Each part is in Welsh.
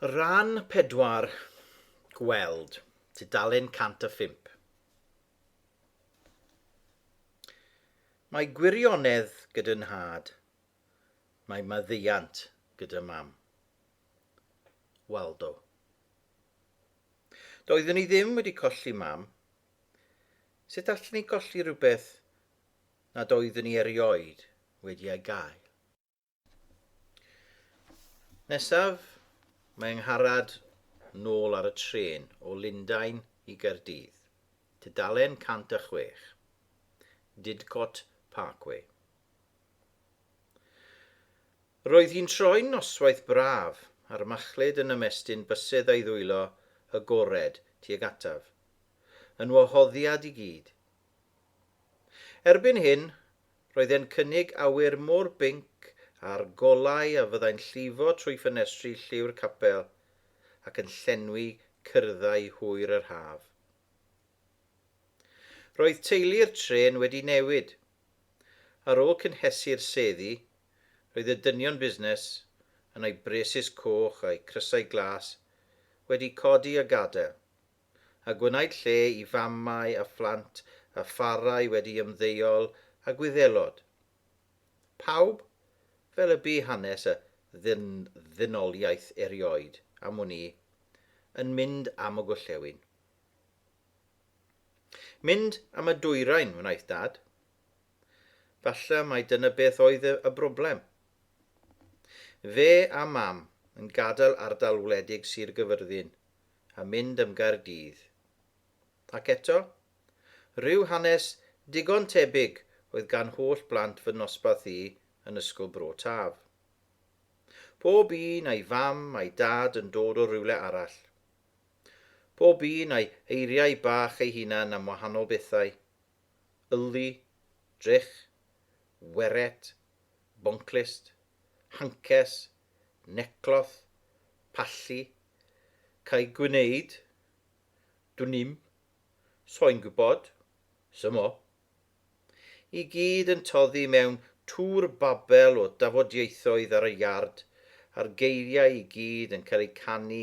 Rhan pedwar, Gweld tudalen 105. Mae gwirionedd gyda nhad, mae maddeuant gyda mam. Waldo. Doeddwn i ddim wedi colli mam. Sut allwn i golli rhywbeth nad oeddwn i erioed wedi ei gael? Nesaf, mae yng Ngharad nôl ar y trên o Lundain i Gaerdydd, tudalen 106, Didcot Parkway. Roedd hi'n troi'n noswaith braf, a'r machlud yn ymestyn bysedd a'i ddwylo agored tuag ataf, yn wahoddiad i gyd. Erbyn hyn, Roedd e'n cynnig awyr mor binc a'r golau a fyddai'n llifo trwy ffenestri lliw'r capel ac yn llenwi cyrddau hwyr yr haf. Roedd teulu'r trên wedi newid. Ar ôl cynhesu'r seddi, roedd y dynion busnes, yn eu braces coch a'u crysau glas, wedi codi a gadael, a gwnaed lle i famau a phlant a pharau wedi ymddeol a Gwyddelod. Pawb, fel y bu hanes y ddyn-ddynoliaeth erioed am wn i, yn mynd am y gorllewin. Mynd am y dwyrain wnaeth Dad. Falle mai dyna beth oedd y, y broblem. Fe a Mam yn gadael ardal wledig Sir Gyfyrddin, a mynd am Gaerdydd. Ac eto, rhyw hanes digon tebyg oedd gan holl blant fy nosbarth i yn Ysgol Bro Taf. Pob un a'i fam a'i dad yn dod o rywle arall. Pob un a'i eiriau bach ei hunan am wahanol bethau, yllu, drych, weret, bonclust, hancers, necloth, pallu, Cael gwneud? Dwn i'm. Soi'n gwybod. Symo. I gyd yn toddi mewn tŵr babel o dafodieithoedd ar y iard, a'r geiriau i gyd yn cael eu canu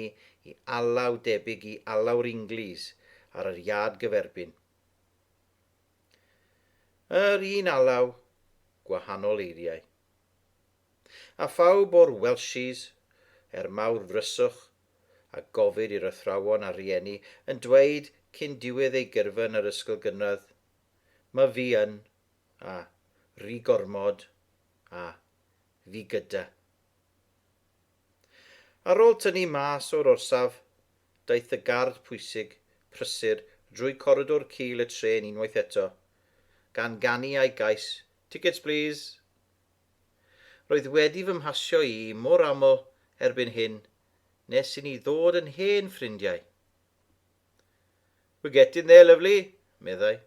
i alaw debyg i alaw'r Inglis ar yr iard gyferbyn. Yr un alaw, gwahanol eiriau. A phawb o'r Welshies, er mawr ddryswch a gofid i'r athrawon a rhieni, yn dweud cyn diwedd eu gyrfa yn yr ysgol gynradd, Ma fi yn, a, ri gormod, a, fi gyda. Ar ôl tynnu mas o'r orsaf, daeth y gard pwysig, prysur, drwy coridor cul y trên unwaith eto, gan ganu a'i gais, Tickets please! Roedd wedi fy mhasio i mor aml erbyn hyn nes i ni ddod yn hen ffrindiau. We're getting there, lovely, meddai.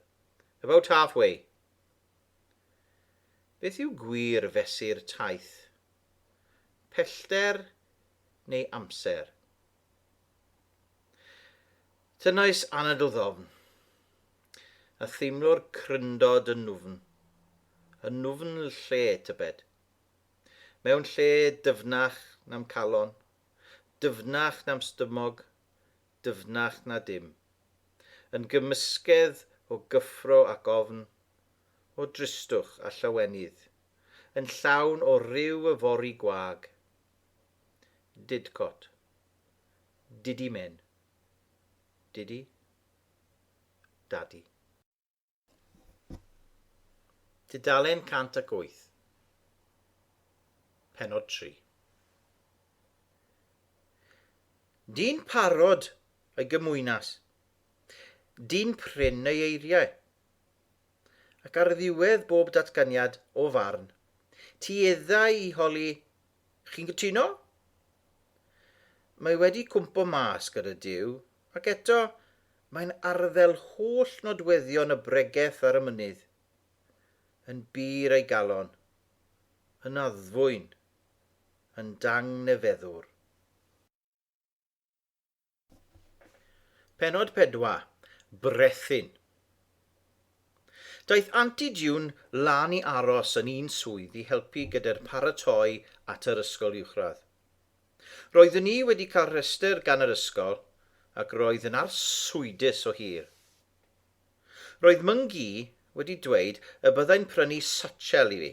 About half way. Beth yw gwir fesur taith? Pellter neu amser? Tynnais anadl ddofn. A theimlo'r cryndod yn nufn, yn nufn lle, tybed? Mewn lle dyfnach na'm calon, dyfnach na'm stymog, dyfnach na dim. Yn gymysgedd o gyffro ac ofn, o dristwch a llawenydd, yn llawn o ryw yfory gwag. Didcot. Diddy men. Diddy Dadi. Tudalen 108 Penod 3 Dyn parod ei gymwynas. Dyn prin ei eiriau. Ac ar ddiwedd bob datganiad o farn, tueddai i holi Chi'n gytuno? Mae wedi cwmpo mas gyda Duw, ac eto, mae'n arddel holl nodweddion y bregeth ar y mynydd. Yn bur ei galon. Yn addfwyn. Yn dangnefeddwr. Penod 4. Brethyn. Daeth Anti June lan i aros yn un swydd i helpu gyda'r paratoi at yr ysgol uwchradd. Roeddwn i wedi cael rhestr gan yr ysgol ac roedd yn arswydus o hir. Roedd Myng-Gi wedi dweud y byddai'n prynu satchel i fi,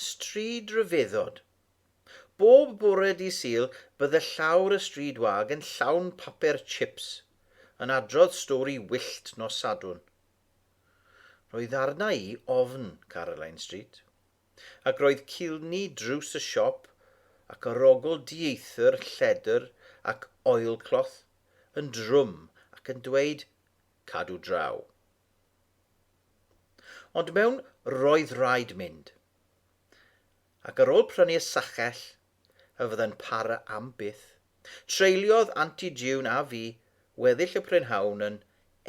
Stryd Rhyfeddod. Bob bore Dydd Sul bydde llawr y stryd wag yn llawn papur chips, yn adrodd stori wyllt nos Sadwrn. Roedd arna i ofn Caroline Street, ac roedd cilni drws y siop ac arogl dieithr lledr ac oilcloth yn drwm ac yn dweud, Cadw draw. Ond mewn roedd raid mynd. Ac ar ôl prynu y sachell, a fyddai'n para am byth, treuliodd Anti June a fi weddill y prynhawn yn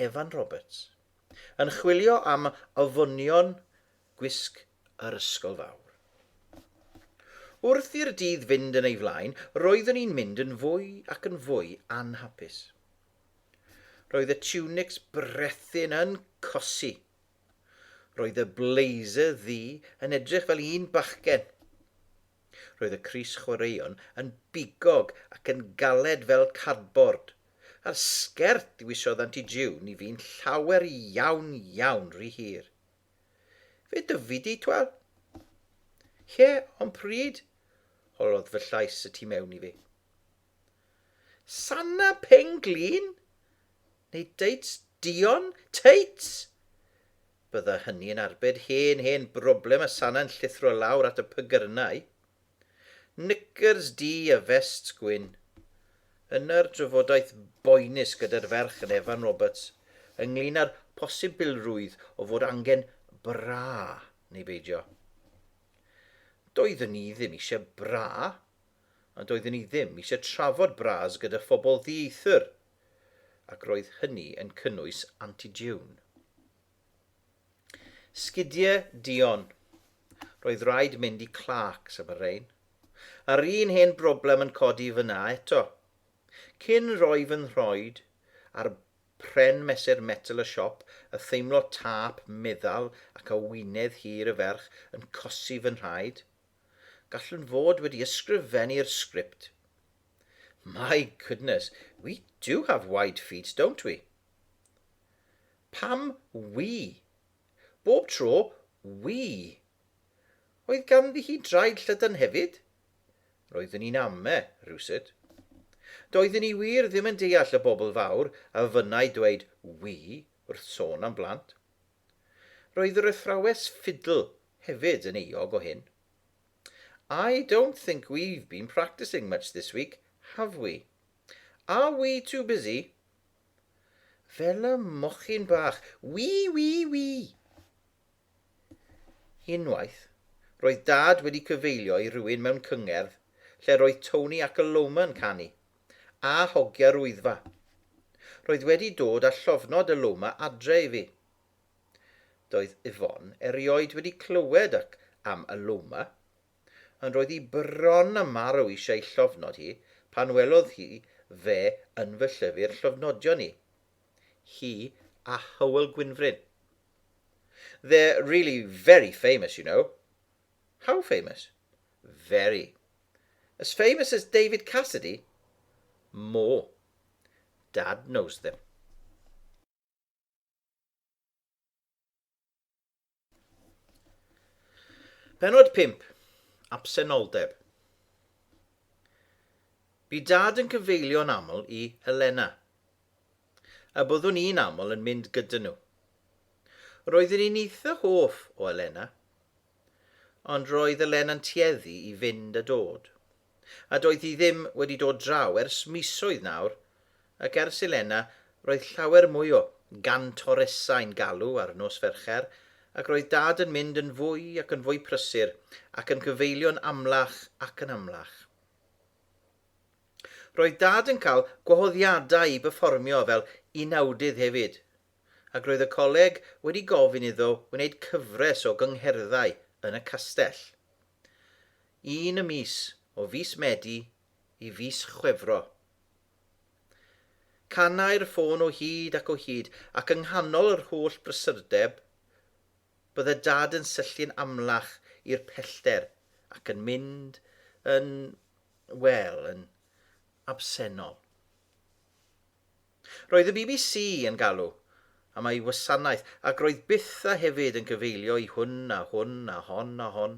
Evan Roberts, yn chwilio am ofynion gwisg yr ysgol fawr. Wrth i'r dydd fynd yn ei flaen, roeddwn i'n mynd yn fwy ac yn fwy anhapus. Roedd y tiwnics brethyn yn cosi. Roedd y blazer ddu yn edrych fel un bachgen. Roedd y crys chwaraeon yn bigog ac yn galed fel cardbord, a'r sgert ddiwisiodd Anti June i fi'n llawer iawn iawn ry hir. Fe dyfu di, twel? Ie, ond pryd? holodd fy llais y tu mewn i fi. Sanna Peng Glin? Neu Deits Dion? Teits! Bydda hynny yn arbed hen, hen broblem a Sanna'n llithro lawr at y pygyrnau. Knickers du a vests gwyn. Yna'r drafodaeth boenus gyda'r ferch yn Evan Roberts ynglŷn â'r posibilrwydd o fod angen bra neu beidio. Doeddwn i ddim eisiau bra, a doedden ni ddim eisiau trafod bras gyda phobl ddieithr, ac roedd hynny yn cynnwys Aunty June. Sgidiau duon. Roedd rhaid mynd i Clarks am y rhain. A'r un hen broblem yn codi fyna eto. Cyn rhoi fy nhroed ar pren mesur metel y siop a theimlo tâp meddal ac a wynedd hir y ferch yn cosi fy nhraed, Gallwn fod wedi ysgrifennu'r sgript. My goodness, we do have wide feet, don't we? Pam we? Bob tro, we. Oedd ganddi hi draed llydan hefyd? Roeddwn i'n ame, rhywsut. Doeddwn i wir ddim yn deall y bobl fawr a fynnai dweud we wrth sôn am blant. Roedd yr athrawes ffidl hefyd yn euog o hyn. I don't think we've been practising much this week, have we? Are we too busy? Fel y mochyn bach, wii wii wii! Unwaith, roedd Dad wedi cyfeilio i rywun mewn cyngerdd lle roedd Tony ac Aloma yn canu. a hogia rwyddfa. Roedd wedi dod a llofnod y Loma adre i fi. Doedd Yvonne erioed wedi clywed ac am y Loma, ond roedd hi bron a marw eisiau llofnod hi pan welodd hi fe yn fy llyfr llofnodion i, hi a Hywel Gwynfryn. They're really very famous, you know. How famous? Very. As famous as David Cassidy? More. Dad knows them. Penod 5. Absenoldeb. Bu dad yn cyfeilio'n aml i Helena. a byddwn i'n aml yn mynd gyda nhw. Roeddwn i'n eitha hoff o Elena, ond roedd Elena'n tueddu i fynd a dod, a doedd hi ddim wedi dod draw ers misoedd nawr, ac ers Elena roedd llawer mwy o gantoresau'n galw ar nos Fercher, ac roedd Dad yn mynd yn fwy ac yn fwy prysur, ac yn cyfeilio'n amlach ac yn amlach. Roedd Dad yn cael gwahoddiadau i berfformio fel unawdydd hefyd, ac roedd y coleg wedi gofyn iddo wneud cyfres o gyngherddau yn y castell. Un y mis, o fis Medi i fis Chwefro. Canai'r ffôn o hyd ac o hyd, ac yng nghanol yr holl brysurdeb, Bydde Dad yn syllu'n amlach i'r pellter ac yn mynd yn, wel, yn absennol. Roedd y bbc yn galw am ei wasanaeth ac roedd byth a hefyd yn cyfeilio i hwn a hwn a hon a hon.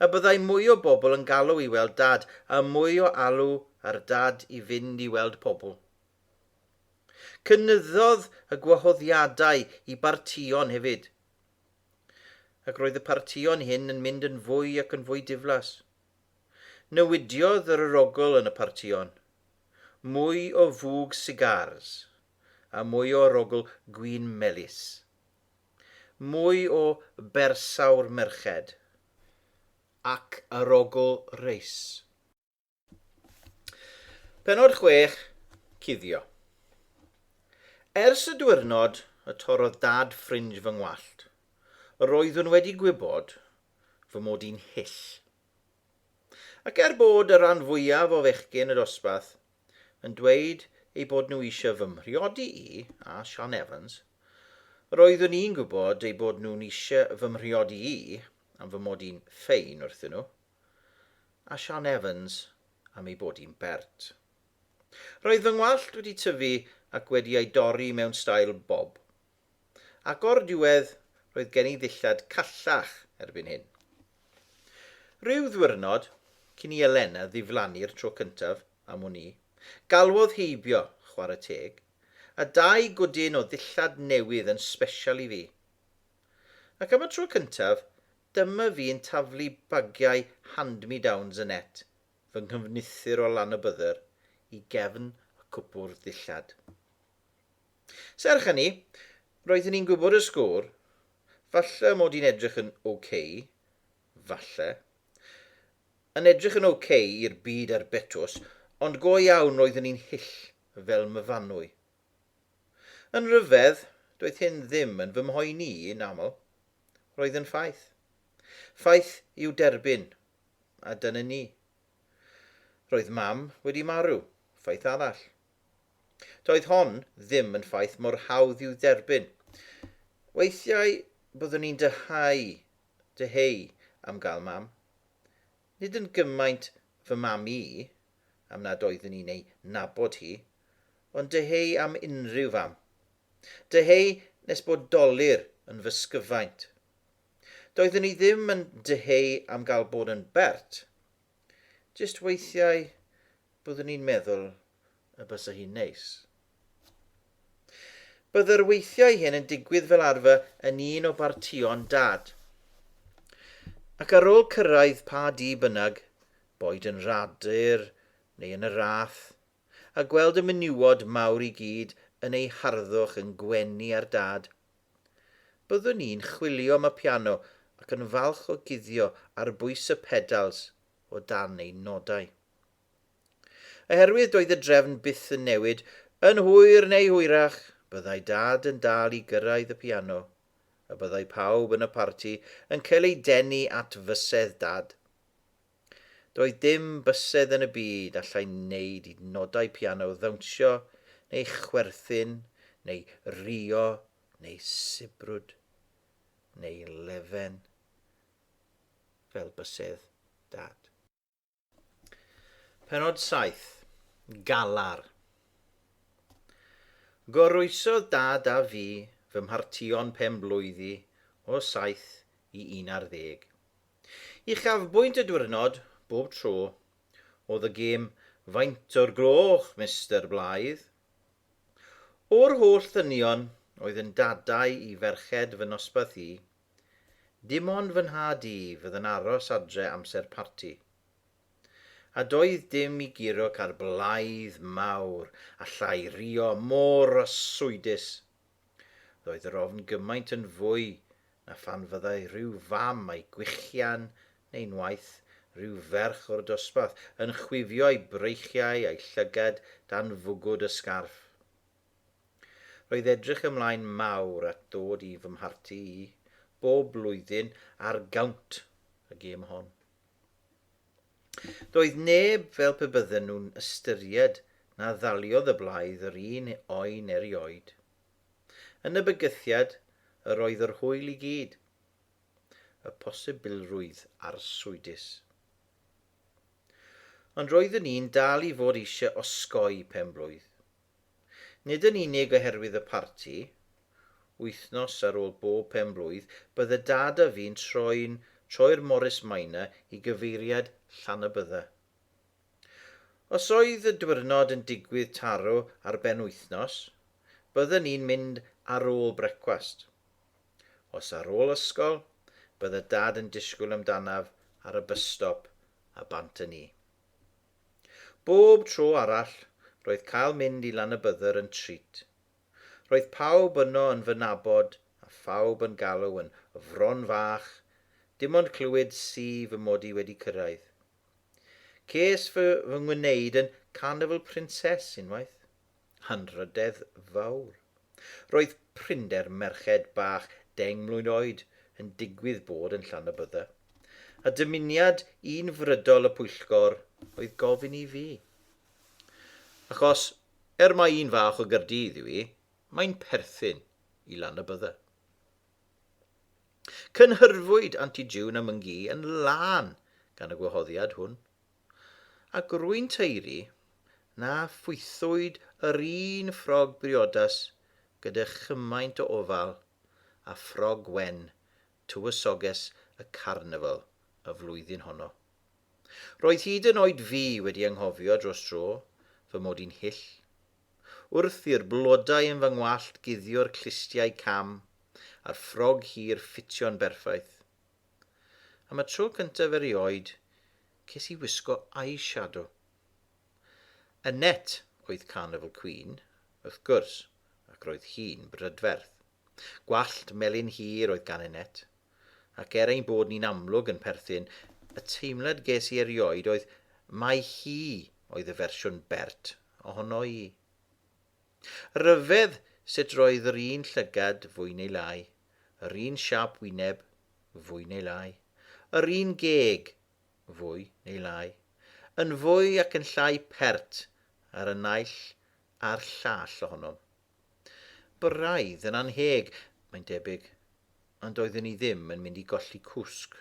Y byddai mwy o bobl yn galw i weld Dad a mwy o alw ar Dad i fynd i weld pobl. Cynyddodd y gwahoddiadau i bartïon hefyd, ac roedd y partïon hyn yn mynd yn fwy ac yn fwy diflas. Newidiodd yr arogl yn y partïon, mwy o fwg sigars a mwy o arogl gwin melys. Mwy o bersawr merched ac arogl reis. Penod 6, Cuddio. Ers y diwrnod y torrodd dad ffrinj fy ngwallt, yr oeddwn wedi gwybod fy mod i'n hyll. Ac er bod y rhan fwyaf o fechgyn y dosbarth yn dweud eu bod nhw eisiau fy mhriodi i a Sian Evans, yr oeddwn i'n gwybod eu bod nhw'n eisiau fy mhriodi i am fy mod i'n ffein wrthyn nhw. a Sian Evans am ei bod hi'n bert. Roedd fy ngwallt wedi tyfu ac wedi ei dorri mewn stail bob, ac o'r diwedd roedd gen i ddillad callach erbyn hyn. Rhyw ddiwrnod, cyn i Elena ddiflannu'r tro cyntaf am wn i, galwodd heibio, chwarae teg, a dau gwdyn o ddillad newydd yn sbesial i fi. Ac am y tro cyntaf, Dyma fi yn taflu bagiau hand-me-downs yn net fy nghyfnithr o Lanybydder i gefn y cwpwrdd ddillad. Serch hynny, roeddwn i'n gwybod y sgôr, falle mod i'n edrych yn ok, falle, yn edrych yn ok i'r byd ar Betws, ond go iawn roeddwn i'n hyll fel myfanwy. Yn rhyfedd, doedd hyn ddim yn fy mhoeni i yn aml. Roedd yn ffaith. Ffaith i'w derbyn, a dyna ni. Roedd Mam wedi marw, ffaith arall. Doedd hon ddim yn ffaith mor hawdd i'w dderbyn. Weithiau byddwn i'n dyheu, dyheu am gael Mam. Nid yn gymaint fy mam i, am nad oeddwn i'n ei nabod hi, ond dyheu am unrhyw fam. Dyheu nes bod dolur yn fy sgyfaint. Doeddwn i ddim yn dyheu am gael bod yn bert. Jyst weithiau byddwn i'n meddwl y bysa hi'n neis. Bydd yr weithiau hyn yn digwydd fel arfer yn un o bartïon Dad. Ac ar ôl cyrraedd pa dŷ bynnag, boed yn Rhadir neu yn y Rath, a gweld y menywod mawr i gyd yn eu harddwch yn gwenu ar Dad, byddwn i'n chwilio am y piano ac yn falch o guddio ar bwys y pedals o dan ein nodau. Oherwydd doedd y drefn byth yn newid, yn hwyr neu hwyrach, byddai Dad yn dal i gyrraedd y piano, a byddai pawb yn y parti yn cael eu denu at fysedd Dad. Doedd dim bysedd yn y byd allai wneud i nodau piano ddawnsio, neu chwerthin, neu rio, neu sibrwd, neu lefen, fel bysedd Dad. Pennod 7, Galar. Goroesodd dad a fi fy mhartïon pen-blwyddi o saith i un ar ddeg. Uchafbwynt y dwyrnod, bob tro, oedd y gêm 'Faint o'r gloch, Mister Blaidd? O'r holl ddynion oedd yn dadau i ferched fy nosbarth i, Dim ond fy nhad i fydd yn aros adre amser parti. A doedd dim i guro ca'r blaidd mawr a llai rio mor arswydus. Roedd yr ofn gymaint yn fwy na phan fyddai rhyw fam a'i gwichian neu'n waeth, rhyw ferch o'r dosbarth, yn chwifio'i breichiau a'i llygad dan fwgwd y sgarff. Roedd edrych ymlaen mawr at ddod i fy mharti i, bob blwyddyn ar gawnt y gêm hon. Doedd neb fel pe bydden nhw'n ystyried na ddaliodd y blaidd yr un oen erioed. Yn y bygythiad yr oedd yr hwyl i gyd. Y posibilrwydd arswydus. Ond roeddwn i'n dal i fod eisiau osgoi pen-blwydd. Nid yn unig oherwydd y parti, wythnos ar ôl bob pen-blwydd, bydd y dad a fi'n troi'n troi'r Morris Minor i gyfeiriad Llanybydda. Os oedd y dwyrnod yn digwydd taro ar ben wythnos, bydden ni'n mynd ar ôl brecwast. Os ar ôl ysgol, bydde dad yn disgwyl amdanaf ar y bysstop a bant â ni. Bob tro arall, roedd cael mynd i Lanybydder yn treat. Roedd pawb yno yn fy nabod a phawb yn galw yn 'Fron Fach', dim ond clywed si fy mod i wedi cyrraedd. Ces fy fy ngwneud yn 'Carnival Princess' unwaith. hanrhydedd fawr. Roedd prinder merched bach deng mlwydd oed yn digwydd bod yn Llanybydda, a dymuniad un frydol y pwyllgor oedd gofyn i fi. Achos, er mai un fach o Gaerdydd yw hi, mae'n perthyn i Lanybydda. Cynhyrfwyd Anti June a Myn-gu yn lân gan y gwahoddiad hwn. a grwyn taeru, na phwythwyd yr un ffrog briodas gyda chymaint o ofal â ffrog wen tywysoges y carnifal y flwyddyn honno. Roedd hyd yn oed fi wedi anghofio dros dro fy mod i'n hyll. Wrth i'r blodau yn fy ngwallt guddio'r clustiau cam a'r ffrog hir ffitio'n berffaith. Am y tro cyntaf erioed, ces i wisgo eyeshadow. Annette oedd Carnival Queen, wrth gwrs, ac roedd hi'n brydferth. Gwallt melyn hir oedd gan Annette, ac er ein bod ni'n amlwg yn perthyn, y teimlad ges i erioed oedd mai hi oedd y fersiwn bert ohono i. Rhyfedd sut roedd yr un llygad, fwy neu lai, yr un siâp wyneb, fwy neu lai, yr un geg, fwy neu lai, yn fwy ac yn llai pert ar y naill a'r llall ohonom. Braidd yn anheg, mae'n debyg, ond doeddwn i ddim yn mynd i golli cwsg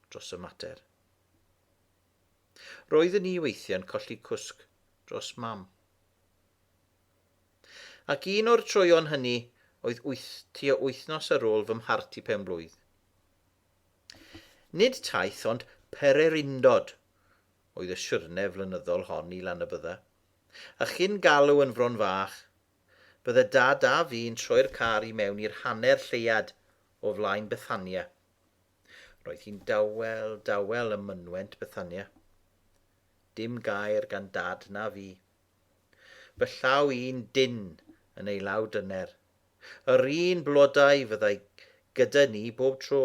dros y mater. Roeddwn i weithiau'n colli cwsg dros Mam. Ac un o'r troeon hynny oedd wyth, tua wythnos ar ôl fy mhart i pen blwydd. Nid taith ond pererindod oedd y siwrne flynyddol hon i Lanybydda, a chyn galw yn Fron Fach, bydde Dad a fi'n troi'r car i mewn i'r hanner lleuad o flaen Bethania, Roedd hi'n dawel, dawel ym mynwent Bethania. Dim gair gan Dad na fi. Fy llaw i'n dynn yn ei law dyner. Yr un blodau fyddai gyda ni bob tro.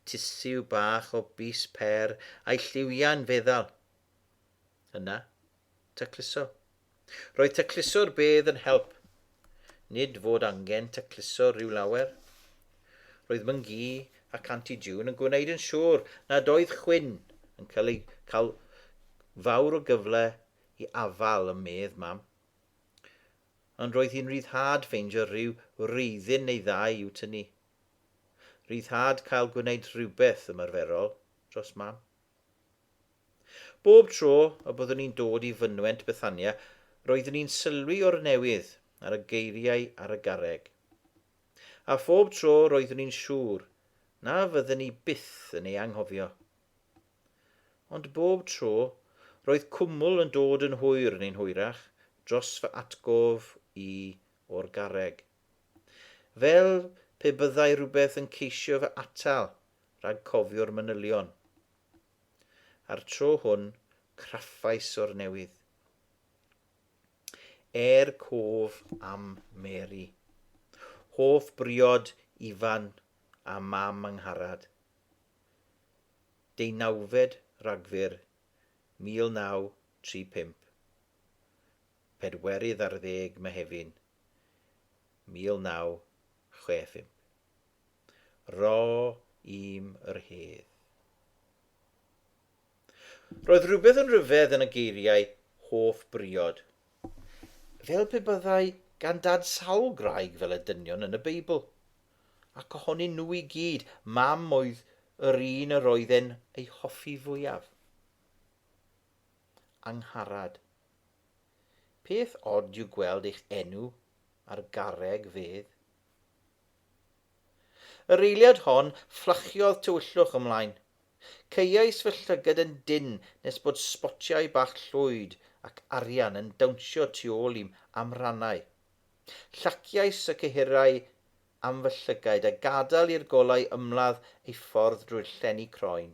Tisiw bach o bys per a'i lliwiau'n feddal. Yna, tacluso. Roedd tacluso'r bedd yn help. Nid fod angen tacluso rhyw lawer. Roedd Myn-gu ac Anti June yn gwneud yn siŵr nad oedd chwyn yn cael ei cael fawr o gyfle i afal ym medd Mam. Ond roedd hi'n ryddhad ffeindio rhyw wreiddyn neu ddau i'w tynnu. Ryddhad cael gwneud rhywbeth ymarferol dros Mam. Bob tro y byddwn i'n dod i fynwent Bethania, roeddwn i'n sylwi o'r newydd ar y geiriau ar y garreg. A phob tro roeddwn i'n siŵr na fydden i byth yn ei anghofio. Ond bob tro, roedd cwmwl yn dod yn hwyr neu'n hwyrach dros fy atgof i o'r garreg. Fel pe byddai rhywbeth yn ceisio fy atal rhag cofio'r manylion. A'r tro hwn, craffais o'r newydd. Er cof am Mary. Hoff briod Ifan a Mam Angharad. Deunawfed Rhagfyr 1935. Pedwerydd ar ddeg Mehefin 1965. Ro i'm yr hedd. Roedd rhywbeth yn rhyfedd yn y geiriau hoff briod. Fel pe byddai gan Dad sawl graig fel y dynion yn y Beibl. Ac ohonyn nhw i gyd, Mam oedd yr un yr oedd e'n ei hoffi fwyaf. Angharad. Peth od yw gweld eich enw ar garreg fedd. Yr eiliad hon, fflachiodd tywyllwch ymlaen. Caeais fy llygad yn dynn nes bod sbotiau bach llwyd ac arian yn dawnsio tu ôl i'm amrannau. Llaciais y cyhyrau am fy llygaid a gadael i'r golau ymladd eu ffordd drwy'r llenni croen.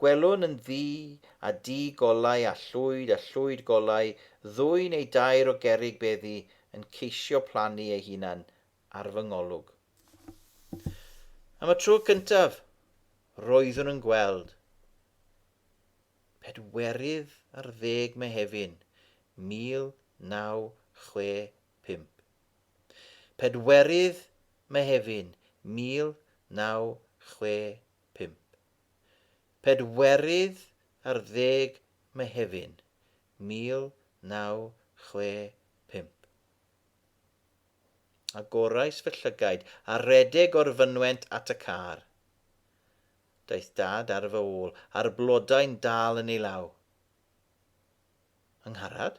Gwelwn yn ddu a du golau a llwyd a llwyd golau ddwy neu dair o gerrig beddi yn ceisio plannu eu hunain ar fy ngolwg. Am y tro cyntaf, roeddwn yn gweld pedwerydd ar ddeg Mehefin 1965. Pedwerydd Mehefin 1965. Pedwerydd ar ddeg Mehefin 1965. Agorais fy llygaid a redeg o'r fynwent at y car. Daeth dad ar fy ôl, a'r blodau'n dal yn ei law. Yng Ngharad?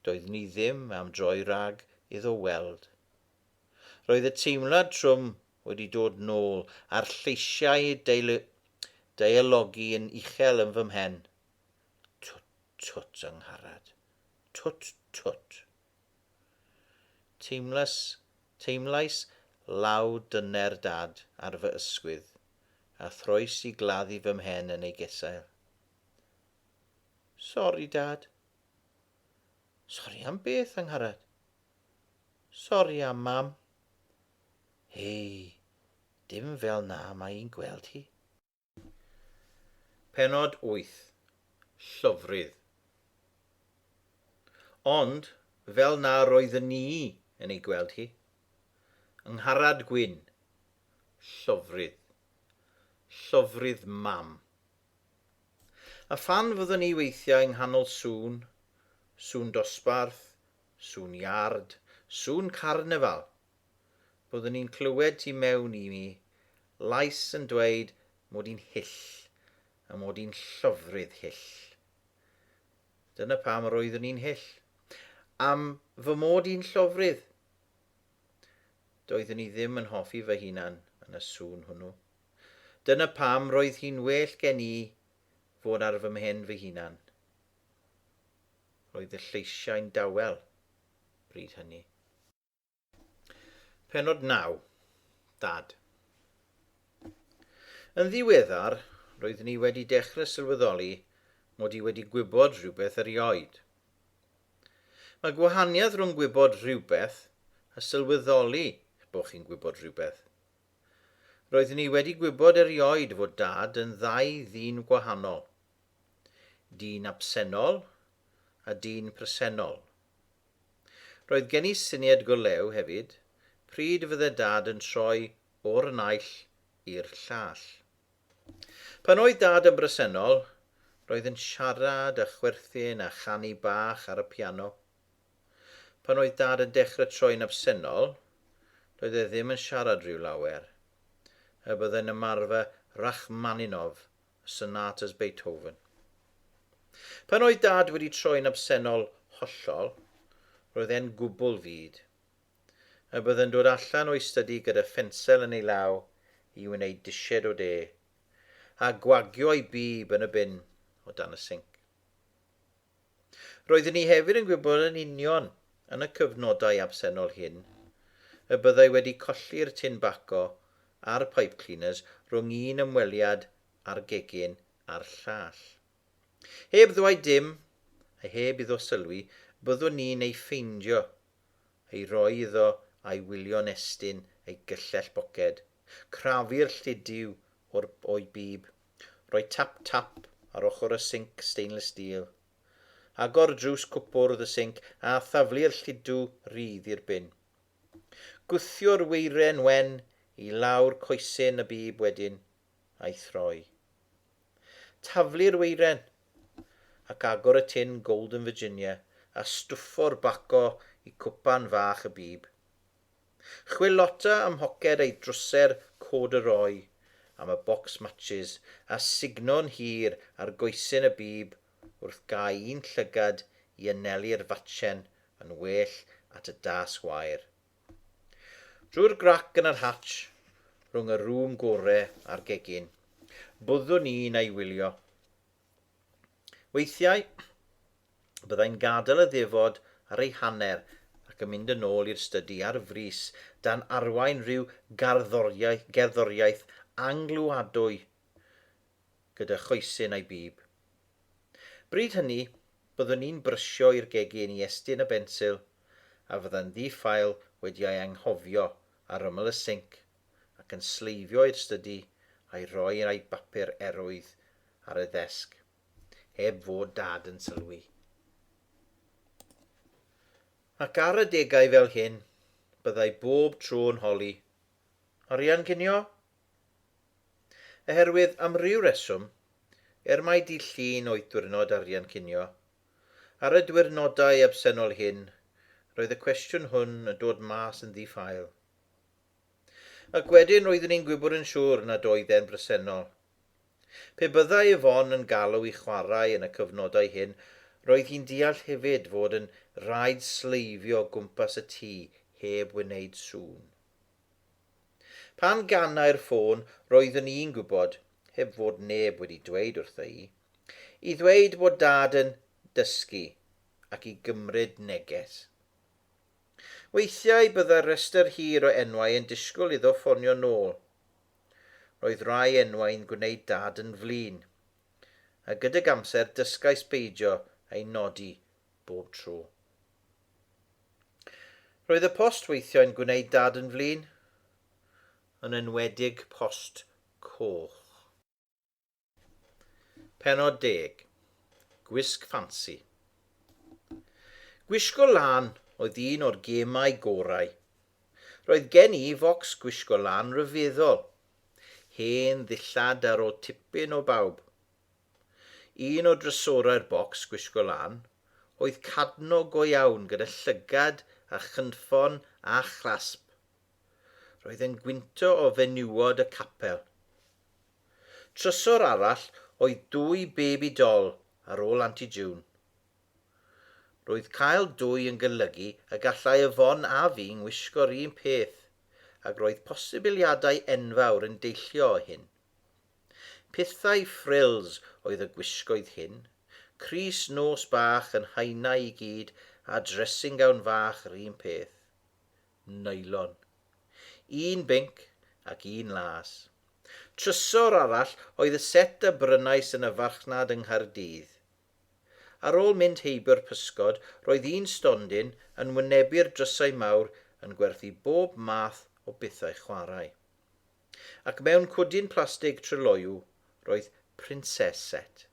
Doedd ni ddim am droi rhag iddo weld. Roedd y teimlad trwm wedi dod nôl a'r lleisiau deil deialogu yn uchel yn fy mhen. Twt, twt, Angharad. Twt, twt. Teimlas, teimlais law dyner dad ar fy ysgwydd, a throes i gladdu fy mhen yn ei gesail. Sori, Dad. Sori am beth, Angharad? Sori am Mam. Hei, dim fel na mae i'n gweld hi. Penod 8, Llofrudd. Ond, fel na roeddwn ni yn ei gweld hi. Angharad Gwyn. Llofrudd. Llofrudd Mam. A phan fyddwn ni weithiau yng nghanol sŵn, sŵn dosbarth, sŵn iard, sŵn carnefal, byddwn ni'n clywed tu mewn i mi lais yn dweud 'mod i'n hyll, a 'mod i'n llofrudd hyll. Dyna pam yr oeddwn i'n hyll. Am fy mod i'n llofrudd. Doeddwn i ddim yn hoffi fy hunan yn y sŵn hwnnw. Dyna pam roedd hi'n well gen i fod ar fy mhen fy hunan. Roedd y lleisiau'n dawel bryd hynny. Pennod 9. Dad. Yn ddiweddar, roeddwn i wedi dechrau sylweddoli mod i wedi gwybod rhywbeth erioed. Mae gwahaniaeth rhwng gwybod rhywbeth a sylweddoli bod chi'n gwybod rhywbeth. Roeddwn i wedi gwybod erioed fod Dad yn ddau ddyn gwahanol. Dyn absennol a dyn presennol. Roedd gen i syniad go lew hefyd pryd fydde Dad yn troi o'r naill i'r llall. Pan oedd Dad yn bresennol, roedd yn siarad a chwerthin a chanu bach ar y piano. Pan oedd Dad yn dechrau troi'n absennol, doedd e ddim yn siarad rhyw lawer. Er byddai'n ymarfer Rachmaninov a sonatas Beethoven. Pan oedd Dad wedi troi'n absennol hollol, roedd e'n gwbl fud. Er byddai'n dod allan o'i stydi gyda phensel yn ei law i wneud disied o de, a gwagio ei bib yn y bin o dan y sinc. Roeddwn i hefyd yn gwybod yn union, yn y cyfnodau absennol hyn, y byddai wedi colli'r tin baco a'r pipe cleaners rhwng un ymweliad â'r gegin a'r llall. Heb ddweud dim, a heb iddo sylwi, byddwn ni'n ei ffeindio, ei roi iddo a'i wylio'n estyn ei gyllell boced, crafu'r llidiw o'r o'i bib, Rhoi tap tap ar ochr y sinc stainless steel. Agor drws cwpwrdd y sinc a thaflu'r lludw rydd i'r bin. Gwthio'r weiren wen i lawr coesyn y bib wedyn, a'i throi. Taflu'r weiren, ac agor y tin Golden Virginia a stwffo'r baco i cwpan fach y bib. Chwilota ym mhoced ei drwser cordyroi am y bocs matshis a sugno'n hir ar goesyn y bib wrth gau un llygad i anelu'r fatchen yn well at y das wair. Drwy'r grac yn yr hatsh, rhwng y rŵm gore a'r gegin, byddwn i'n ei wylio. Weithiau, byddai'n gadael y ddefod ar ei hanner ac yn mynd yn ôl i'r stydi ar frys dan arwain rhyw garddoriaeth, gerddoriaeth angluadwy gyda choesyn a'i bib. Bryd hynny, byddwn i'n brysio i'r gegin i Estyn y bensil a fydda'n ddi-ffael wedi ei anghofio ar ymyl y sinc ac yn sleifio i'r stydi a'i roi yn ei bapur erwydd ar y ddesg, heb fod Dad yn sylwi. Ac ar adegau fel hyn, byddai bob tro yn holi, Arian cinio? Oherwydd, am ryw reswm, er mai dydd Llun oedd diwrnod arian cinio, ar y diwyrnodau absennol hyn, roedd y cwestiwn hwn yn dod mas yn ddi-ffael. Ac wedyn roeddwn i'n gwybod yn siŵr nad oedd e'n bresennol. Pe byddai Yvonne yn galw i chwarae yn y cyfnodau hyn, roedd hi'n deall hefyd fod yn rhaid sleifio o gwmpas y tŷ heb wneud sŵn. Pan ganai'r ffôn, roeddwn i'n gwybod, heb fod neb wedi dweud wrtha i, i ddweud bod Dad yn dysgu ac i gymryd neges. Weithiau byddai'r rhestr hir o enwau yn disgwyl iddo ffonio nôl. Roedd rai enwau'n gwneud Dad yn flin. A gydag amser dysgais beidio â'i nodi bob tro. Roedd y post weithiau'n gwneud Dad yn flin, yn enwedig post coch. Pennod deg. Gwisg ffansi. Gwisgo lan oedd un o'r gemau gorau. Roedd gen i focs gwisgo lan ryfeddol. Hen ddillad ar ôl tipyn o bawb. Un o drysorau'r bocs gwisgo lan oedd cadno go iawn gyda llygad a chynffon a chrasp. Roedd e'n gwynto o fenywod y capel. Trysor arall oedd dwy baby doll ar ôl Aunty June. Roedd cael dwy yn golygu y gallai Yvonne a fi ngwisgo'r un peth ac roedd posibiliadau enfawr yn deillio o hyn. Pithau frills oedd y gwisgoedd hyn, crys nos bach yn haenau i gyd a dressing gown fach 'r un peth. neilon. Un binc ac un las. Trysor arall oedd y set a brynais yn y farchnad yng Nghaerdydd. Ar ôl mynd heibio'r pysgod, roedd un stondin yn wynebu'r drysau mawr yn gwerthu bob math o bethau chwarae. Ac mewn cwdyn plastig tryloyw roedd Princess Set.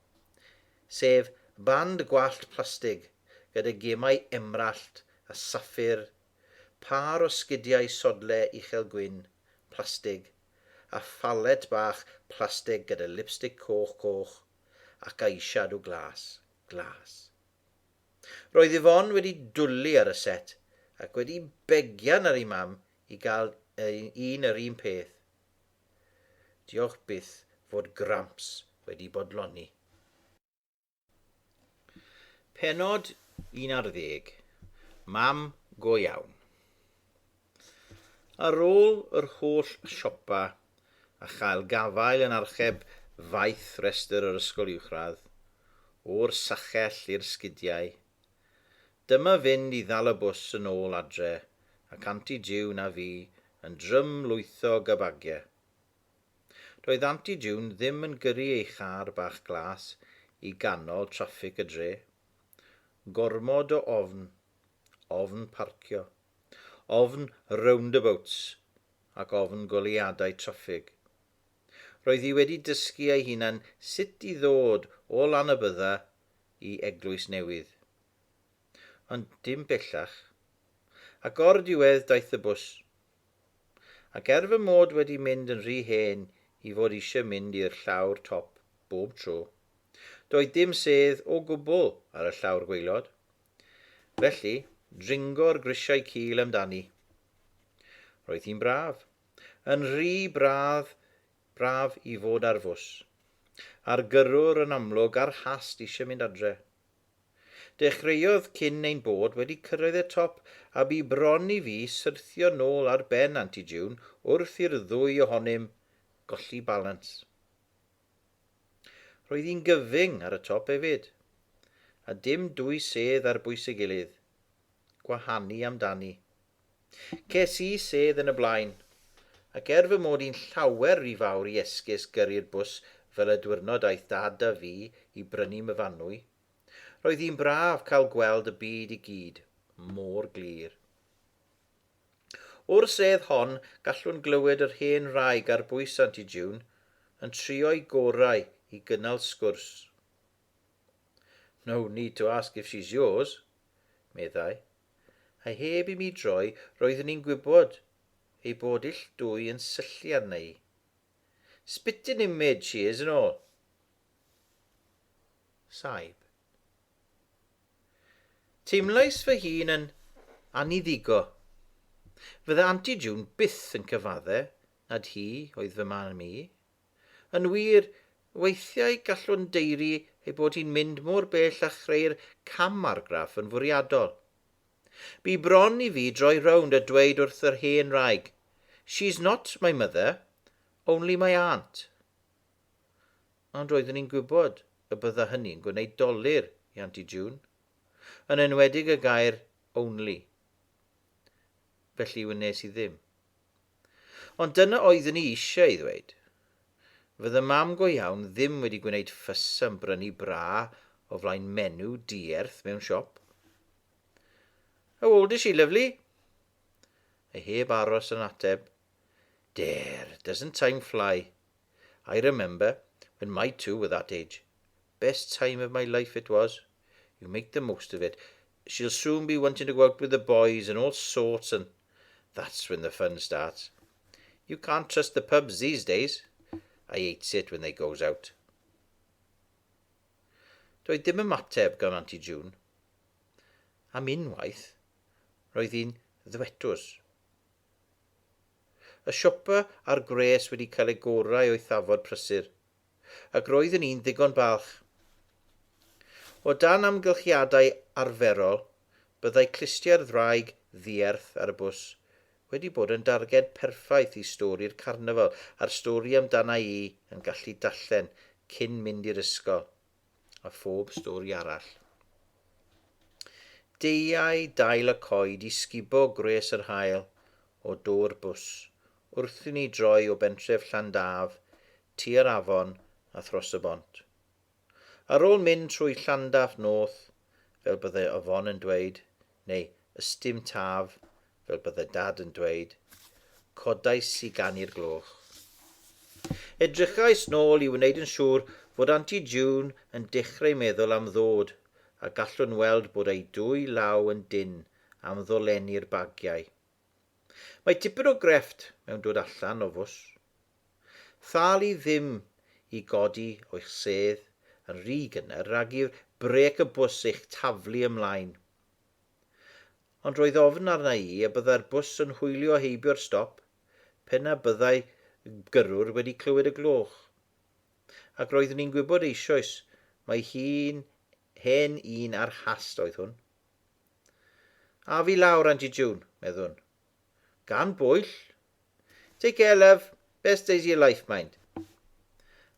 Sef band gwallt plastig gyda gemau emrallt a saffir Pâr o sgidiau sodle uchel gwyn, plastig, a phalet bach plastig gyda lipstic coch coch ac eyeshadow glas, glas. Roedd Yvonne wedi dwli ar y set ac wedi begian ar ei mam i gael un yr un peth. Diolch byth fod Gramps wedi bodloni. Penod 11. Mam go iawn. Ar ôl yr holl siopa a chael gafael yn archeb faith restr yr ysgol uwchradd, o'r sachell i'r sgidiau, dyma fynd i ddal y bws yn ôl adre ac Anti June a fi yn drym lwytho gabagie. Doedd Anti June ddim yn gyrru ei char bach glas i ganol traffig y dre. Gormod o ofn. Ofn parcio. Ofn roundabouts. Ac ofn goleuadau traffig. Roedd hi wedi dysgu ei hunan sut i ddod o Lanybydda i Eglwys Newydd. Ond dim bellach. Ac o'r diwedd daeth y bws. Ac er fy mod wedi mynd yn rhy hen i fod eisiau mynd i'r llawr top bob tro, doedd dim sedd o gwbl ar y llawr gwaelod. Felly, dringo'r grisiau cul amdani. Roedd hi'n braf. Yn rhy braf, braf i fod ar fws. A'r gyrrwr yn amlwg ar hast eisiau mynd adre. Dechreuodd cyn ein bod wedi cyrraedd y top a bu bron i fi syrthio nôl ar ben Anti June wrth i'r ddwy ohonym golli balans. Roedd hi'n gyfyng ar y top efyd, a dim dwy sedd ar bwys ei gilydd. Gwahanu amdani. Ces i sedd yn y blaen, ac er fy mod i'n llawer ry fawr i esgus gyrru'r bws fel y dwyrnod aeth Dad a fi i brynu myfanwy, roedd hi'n braf cael gweld y byd i gyd mor glir. O'r sedd hon, gallwn glywed yr hen wraig ar bwys Aunty June yn trio'i gorau i gynnal sgwrs. No need to ask if she's yours, meddai. a heb i mi droi roeddwn i'n gwybod ei bod ill dwy yn syllu arna i. Spitting image she is and all. Saib. Teimlais fy hun yn aniddigo. Fydda Anti June byth yn cyfadde nad hi oedd fy mam i, Yn wir, weithiau gallwn daeru ei bod hi'n mynd mor bell â chreu'r cam-argraff yn fwriadol. Bu bron i fi droi rownd a dweud wrth yr hen wraig, She's not my mother, only my aunt. Ond roeddwn i'n gwybod y bydda hynny'n gwneud dolur i Anti June, yn enwedig y gair only. felly wnes i ddim. Ond dyna oeddwn i eisiau ei ddweud. Fydda mam go iawn ddim wedi gwneud ffys am brynu bra o flaen menu dierth mewn siop. How old is she, lovely? A heb aros yn ateb. Dare, doesn't time fly? I remember when my two were that age. Best time of my life it was. You make the most of it. She'll soon be wanting to go out with the boys and all sorts and that's when the fun starts. You can't trust the pubs these days. I hates it when they goes out. Doedd dim ymateb gan Auntie June. Am unwaith, roedd hi'n ddwetws. Y siopa a'r gwres wedi cael ei gorau o'i thafod prysur. ac roeddwn i'n ddigon balch. O dan amgylchiadau arferol, byddai clustiau'r ddraig ddierth ar y bws wedi bod yn darged perffaith i stori'r carnafal a'r stori amdana i yn gallu darllen cyn mynd i'r ysgol, a phob stori arall. Deuai dail y coed i sgubo gwres yr haul o do'r bws wrth i ni droi o bentref Llandaf tua'r afon a thros y bont. Ar ôl mynd trwy Llandaf North, fel bydde Yvonne yn dweud, neu Ystum Taf, fel bydde Dad yn dweud, codais i gan i'r gloch. Edrychais nôl i wneud yn siŵr fod Aunty June yn dechreu meddwl am ddod, a gallwn weld bod ei dwy law yn dynn am ddolenni'r bagiau. Mae tipyn o grefft mewn dod allan o fws. Thalu ddim i godi o'ch sedd yn rhy gynnar rhag i'r brêc y bws eich taflu ymlaen. Ond roedd ofn arna i y byddai'r bws yn hwylio heibio'r stop pe na byddai gyrrwr wedi clywed y gloch. Ac roeddwn i'n gwybod eisoes mai hi'n hen un ar hast oedd hwn. Af i lawr, Anti June, meddwn. Gan bwyll? Take care love, best days of your life mind.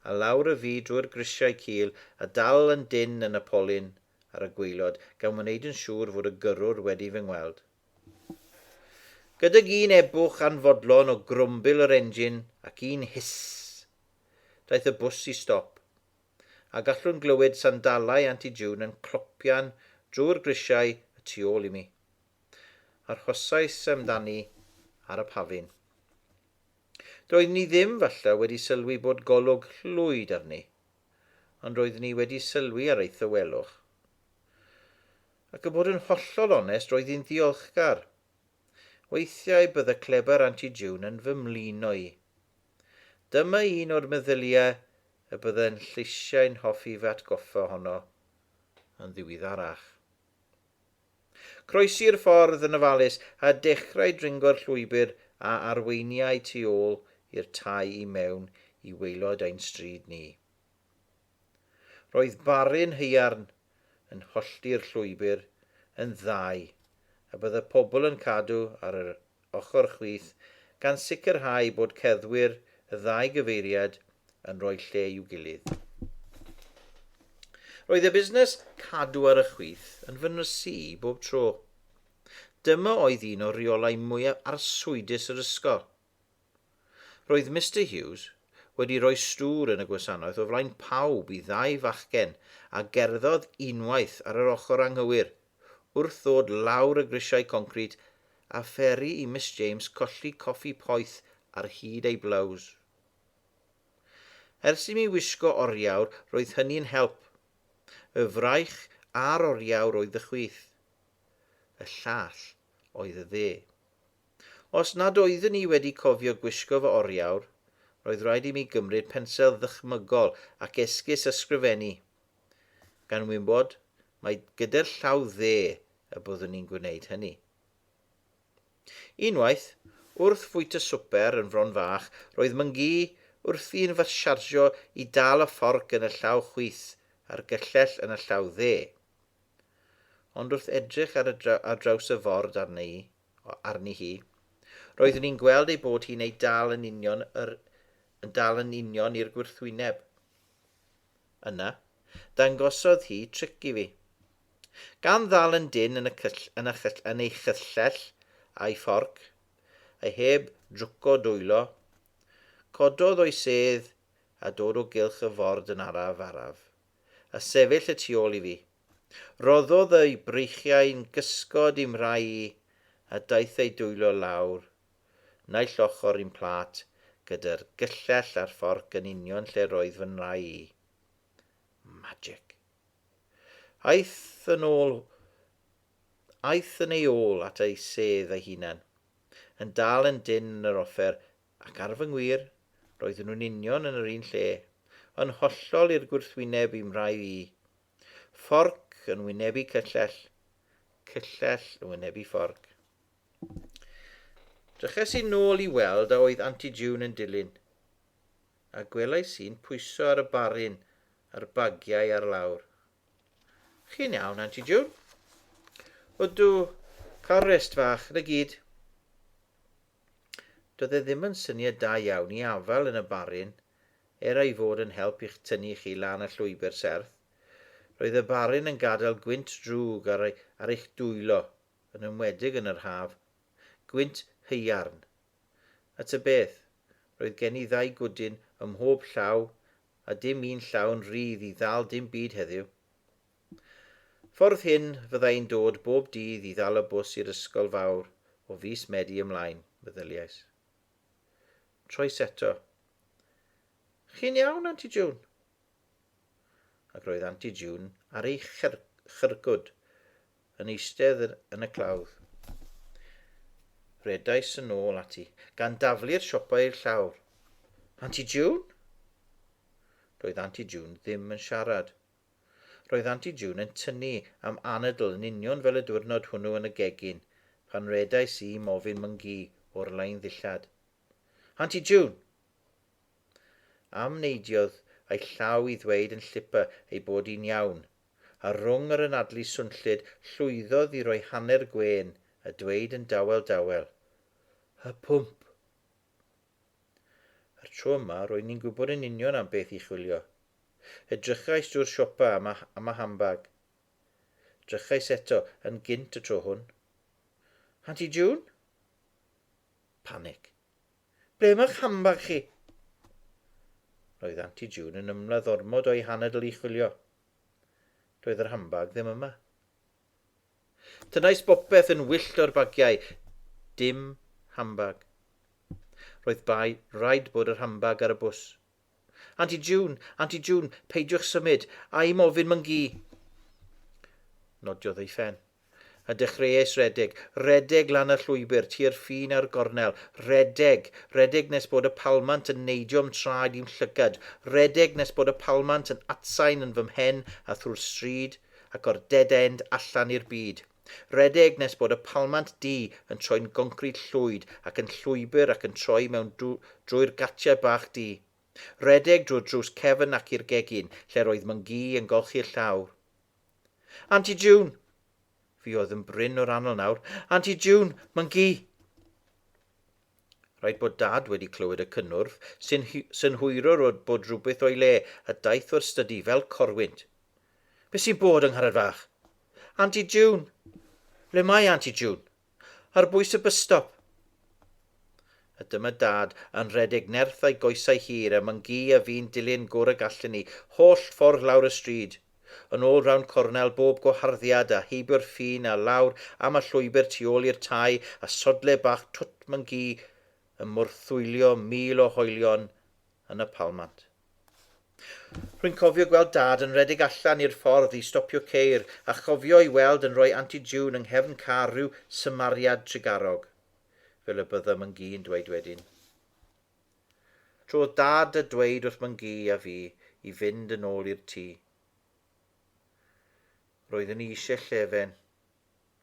A lawr y fi drwy'r grisiau cul a dal yn dynn yn y polyn ar y gwaelod gan wneud yn siŵr fod y gyrrwr wedi fy ngweld. Gydag un ebwch anfodlon o grwmbil yr engine ac un hiss, daeth y bws i stop, a gallwn glywed sandalau Aunty June yn clopian drwy'r grisiau y tu ôl i mi. Arhosais amdani ar y pafin. Doeddwn i ddim, falle, wedi sylwi bod golwg llwyd arni, ond roeddwn i wedi sylwi ar ei thywelwch. Ac y bod yn hollol onest, roedd hi'n ddiolchgar. Weithiau bydde cleber Auntie June yn fy mlino i. Dyma un o'r meddyliau y byddai'n lleisiau'n hoffi fy atgoffa ohono yn ddiwyddarach. Croesi'r ffordd yn ofalus a dechrau dringo'r llwybr a arweiniai tu ôl i'r tai i mewn i waelod ein stryd ni. Roedd barun haearn yn hollti'r llwybr yn ddau a bydd y pobl yn cadw ar yr ochr chwith gan sicrhau bod cerddwyr y ddau gyfeiriad yn rhoi lle i'w gilydd. Roedd y busnes cadw ar y chwith yn fy nysu i bob tro. Dyma oedd un o reolau mwyaf arswydus yr ysgol. Roedd Mister Hughes wedi rhoi stŵr yn y gwasanaeth o flaen pawb i ddau fachgen a gerddodd unwaith ar yr ochr anghywir wrth ddod lawr y grisiau concrit a pheri i Miss James colli coffi poeth ar hyd ei blows. Ers i mi wisgo oriawr, roedd hynny'n help. Y fraich a'r oriawr oedd y chwith. Y llall oedd y dde. Os nad oeddwn i wedi cofio gwisgo fy oriawr, roedd rhaid i mi gymryd pensel ddychmygol ac esgus ysgrifennu, gan wybod mai gyda'r llaw dde y byddwn i'n gwneud hynny. Unwaith, wrth fwyta swper yn Fron Fach, roedd myngu wrthi yn fy siarjio i dal y fforc yn y llaw chwith a'r gyllell yn y llaw dde. Ond wrth edrych ar, y dra ar draws y ford arni, arni hi, roeddwn i'n gweld ei bod hi'n ei dal yn union yr, yn dal yn union i'r gwrthwyneb. Yna, dangosodd hi tric i fi. Gan ddal yn dynn yn y cyll, yn y chyll, yn ei chyllell a'i fforc, a heb drwco dwylo, cododd o'i sedd a dod o gylch y ford yn araf, araf, a sefyll y tu ôl i fi. Rhoddodd y'i breichiau'n gysgod i'm rhai i, a daeth ei dwylo lawr naill ochr i'n plât, gyda'r gyllell a'r fforc yn union lle roedd fy nrau i. Magic. Aeth yn ôl aeth yn ei ôl at ei sedd ei hunan, yn dal yn dyn yn yr offer, ac ar fy ngwir, roedden nhw'n union yn yr un lle, yn hollol i'r gwrthwyneb i'm rhai i. Fforc yn wynebu cyllell, cyllell yn wynebu fforc. Dryches i nôl i weld a oedd Anti June yn dilyn, a gwelais i'n pwyso ar y barin a'r bagiau ar lawr. Chi'n iawn, Anti June? Ydw, cael rest fach, na gyd. Doedd e ddim yn syniad da iawn i afael yn y barin, er ei fod yn help i'ch tynnu chi lan y llwybr serth. Roedd y barin yn gadael gwynt drwg ar, ar eich dwylo, yn enwedig yn yr haf, gwynt haearn. A ta beth, roedd gen i ddau gwdyn ym mhob llaw a dim un llawn rydd i ddal dim byd heddiw. Ffordd hyn, fydda i'n dod bob dydd i ddal y bws i'r ysgol fawr o fis Medi ymlaen, meddyliais. Troes eto. Chi'n iawn, Anti June? ac roedd Anti June ar ei chyrgwd yn eistedd yn y clawdd. Rhedais yn ôl ati, gan daflu'r siopau i'r llawr. Anti June? Roedd Anti June ddim yn siarad. Roedd Anti June yn tynnu am anadl yn union fel y diwrnod hwnnw yn y gegin, pan redais i mofyn myngu o'r lain ddillad. Anti June! Am neidiodd a'i llaw i ddweud yn llipa ei bod hi'n iawn, a rhwng yr anadlu swnllyd llwyddodd i roi hanner gwên a dweud yn dawel dawel, Y pwmp! A'r tro yma, roedd ni'n gwybod yn union am beth i chwilio. Edrychais drwy'r siopa am, am y hambag. Drychais eto, yn gynt y tro hwn. Anti June? Panic. Ble mae'ch handbag chi? Roedd Anti June yn ymladd ormod o'i hanadl i chwilio. Doedd yr handbag ddim yma. Tynnais bopeth yn wyllt o'r bagiau. Dim handbag. Roedd bai raid bod yr handbag ar y bws. Aunty June, Aunty June, peidiwch symud, a i'm ofyn myn gi. Nodiodd ei phen. A dechreuais redeg, redeg lan y llwybr, tua'r ffin a'r gornel, redeg, redeg nes bod y palmant yn neidio'm traed i'm llygad, redeg nes bod y palmant yn atsain yn fy mhen a thrwy'r stryd, ac o'r dead end allan i'r byd. Rhedeg nes bod y palmant du yn troi'n goncrid llwyd ac yn llwybr ac yn troi mewn drwy'r gatiau bach du. Rhedeg drwy'r drws cefn ac i'r gegin lle roedd Myn-gu yn golchi'r llawr. Anti June! Fi oedd yn brin o'r anol nawr. Anti June! Myn-gu! Rhaid bod Dad wedi clywed y cynnwrf, sy'n synhwyrwr o bod rhywbeth o'i le, a daeth o'r stydi fel corwynt. Be sy'n bod, yng Ngharreg Fach? Anti June! Ble mae Anti June? Ar bwys y bysstop! A dyma Dad yn rhedeg nerth a'i goesau hir, a Mangee a fi'n dilyn gwr y gallen ni, holl ffordd lawr y stryd. Yn ôl Round Cornel, bob gwaharddiad a heibio'r ffin a lawr am y llwybr tu ôl i'r tai a sodle bach Twt Mynci yn morthwylio mil o hoelion yn y palmant. Rwy'n cofio gweld Dad yn rhedeg allan i'r ffordd i stopio ceir a chofio'i weld yn rhoi Aunty June yng nghefn car rhyw symariad trugarog, fel y bydda Mynci yn dweud wedyn. Tro oedd Dad a dweud wrth Mangî a fi i fynd yn ôl i'r tŷ. Roeddwn i eisiau llefen,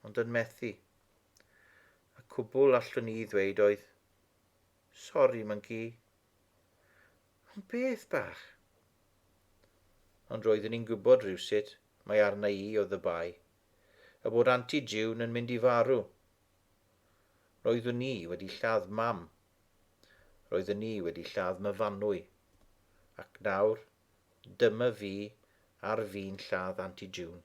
ond yn methu. Y cwbl allwn i ddweud oedd, Sori, Mangî. Ond beth bach? Ond roeddwn i'n gwybod rhywsut mae arna i o ddybai, a bod Anti June yn mynd i farw. Roeddwn i wedi lladd Mam Roedden ni wedi lladd Myfanwy, ac nawr dyma fi ar fin lladd Anti June.